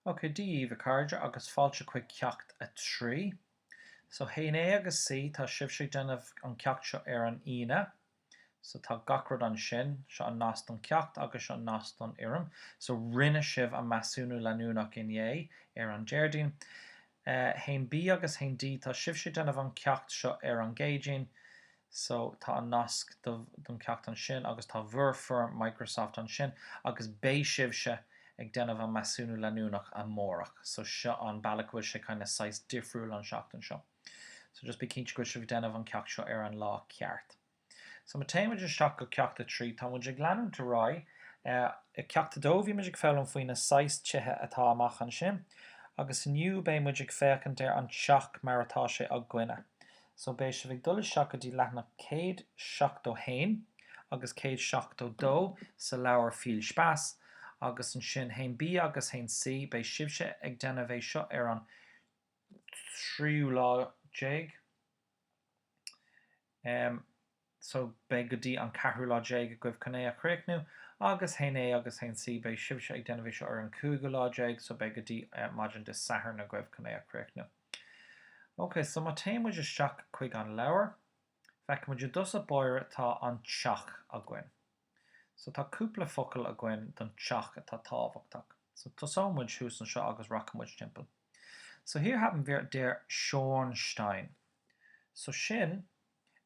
OK, Dia dhaoibh a chairde agus fáilte chuig ceacht a trí. So haon A agus C, tá sibhse ag déanamh an ceacht seo ar an Aoine. So tá gach rud ansin, seo an nasc don ceacht agus seo nasc don fhoirm. So rinne sibh an measúnú leanúnach inné ar an Déardaoin. Haon B agus haon D, tá sibhse ag déanamh an ceacht seo ar an gCéadaoin. So, tá an nasc don ceacht ansin agus tá bhur foirm Microsoft ansin agus beidh sibhse ag déanamh an measúnú leanúnach amárach. So, seo an bealach go bhfuil sé kinda saghas difriúil an seachtain seo. So, just bí cinnte go bhfuil sibh ag déanamh an ceacht seo ar an lá ceart. So, má théann muid isteach go ceacht a trí, tá muid ag leanúint ar aghaidh. I gceacht a dó, bhí muid ag foghlaim faoi na saghas tithe atá amach ansin agus inniu beidh muid ag féachaint ar an teach mar atá sé againne. So beidh sibh ag dul isteach go dtí leathanach céad seachtó haon agus céad seachtó dó sa leabhar Viel Spaß agus ansin haon B agus haon C, beidh sibhse ag déanamh é seo ar an tríú lá déag. so beidh go dtí an ceathrú lá déag agaibh chun é a chríochnú, agus haon A agus haon C. Beidh sibhse ag déanamh é seo ar an cúigiú lá déag so beidh go dtí maidin Dé Sathairn agaibh chun é a chríochnú. Ok, so má théann muid isteach chuig an leabhar, feicfidh muid i dtosach báire tá an teach againn. So tá cúpla focal againn don teach atá tábhachtach. So tosóidh muid thuas anseo agus rachaidh muid timpeall. So hier haben wir der Schornstein. So sin.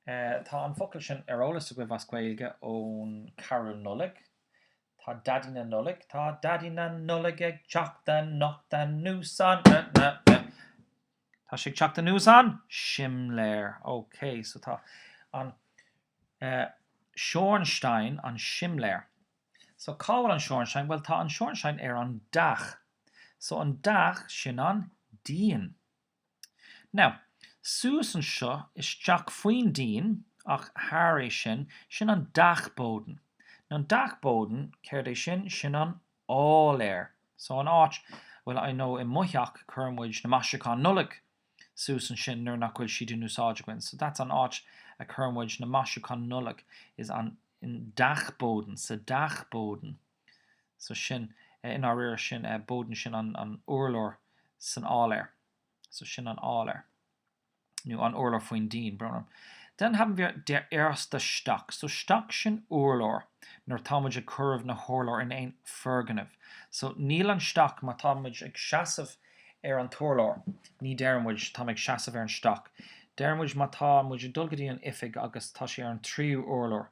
Tá an focal sin ar eolas agaibh as Gaeilge ón Carúl Nollag. Tá Daidí na Nollag, tá Daidí na Nollag ag teacht anocht anuas an, na, na, na. Tá sé ag teacht anuas an simléar. Ok, so tá an Schornstein, an simléar. So cá bhfuil an Schornstein? Bhuel tá an Schornstein ar an Dach. So an Dach, sin an díon. Now, suas anseo isteach faoin díon, ach thar é sin, sin an Dachboden. Now, an Dachboden, céard é sin? Sin an áiléar. So, an áit, well, I know i mo theach cuireann muid na maisiúcháin Nollag suas ansin nuair nach bhfuil siad in úsáid againn. So, that's an áit a cuireann muid na maisiúcháin Nollag is an, Dachboden, sa Dachboden. so sin, i ndáiríre, sin an Boden, sin an urlár san áiléar, so sin an áiléar, nó an urlár faoin díon, b'fhearr liom, Dann haben wir der erste Stock, so Stock, sin urlár, nuair atá muid ag cuireadh na hurláir in aon foirgneamh, so níl an Stock, má tá muid ag seasamh ar an t-urlár, ní deireann muid, tá mé ag seasamh ar an Stock, deireann muid má tá muid ag dul go dtí an oifig agus tá sé ar an tríú urlár,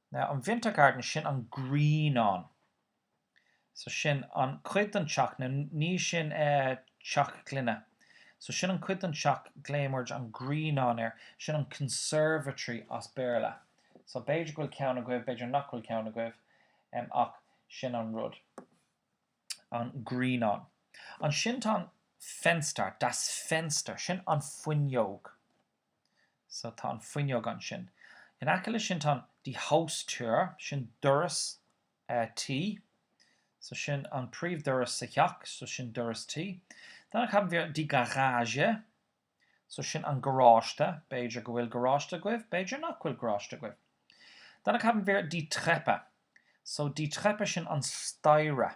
Now an Wintergarten sin an grianán. So sin an cuid den teach now ní sin eh teach gloine. So sin an cuid den teach glaoimid an grianán air. Sin an conservatory as Béarla. So b'fhéidir go bhfuil ceann agaibh, b'fhéidir nach bhfuil ceann agaibh em ach sin an rud. An grianán. Ansin tá an Fenster, das Fenster, sin an fuinneog. So tá an fuinneog ansin. In aice le sin tá an die Haustür, sin doras tí. So sin an príomh doras sa theach, so sin doras tí. Dann haben wir die Garage, so sin an garáiste, b'fhéidir go bhfuil garáiste agaibh, b'fhéidir nach bhfuil garáiste agaibh. Dann haben wir die Treppe, so die Treppe sin an staighre.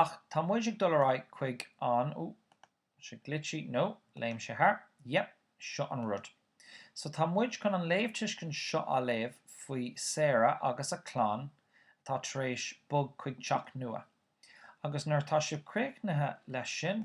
Ach tá muid ag dul ar aghaidh chuig an, oh, sé glitchí, no, léim sé thar, yep, seo an rud. So tá muid chun an léamhtuiscint seo a léamh faoi Sarah agus a clann atá tar éis bog chuig teach nua. Agus nuair atá sibh críochnaithe leis sin,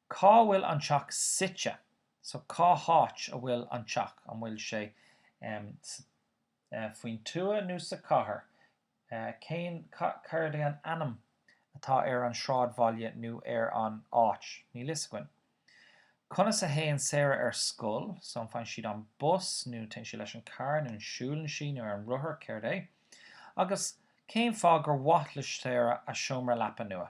Cá bhfuil an teach suite? So, cá háit a bhfuil an teach? An bhfuil sé faoin tuath nó sa chathair? Cén, céard é an ainm atá ar an sráidbhaile nó ar an áit? Níl fhios againn. Conas a théann Sarah ar scoil? So, an bhfaigheann sí an bus nó téann sí leis an carr nó an siúlann sí nó ar an rothar? Céard é? Agus cén fáth gur maith le Sarah a seomra leapa nua?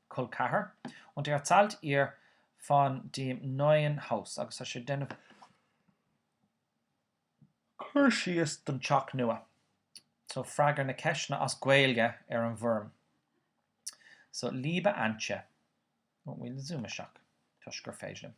col ceathar. Und er erzählt ihr von dem neuen Haus, agus tá sé ag déanamh cur síos don teach nua. So freagair na ceisteanna as Gaeilge ar an bhfoirm. So liebe Antje, bhfuil zoom isteach, toisc gur féidir liom.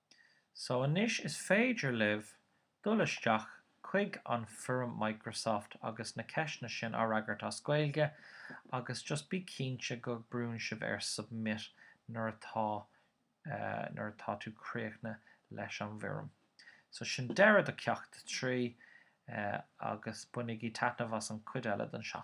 So anois is féidir libh dul isteach chuig an foirm Microsoft agus na ceisteanna sin a fhreagairt as Gaeilge agus just bí cinnte go brúnn sibh ar submit nuair atá nuair atá tú críochna leis an bhfoirm. So sin deireadh do Cheacht 3 agus bainigí taitneamh as an chuid eile don seachtain.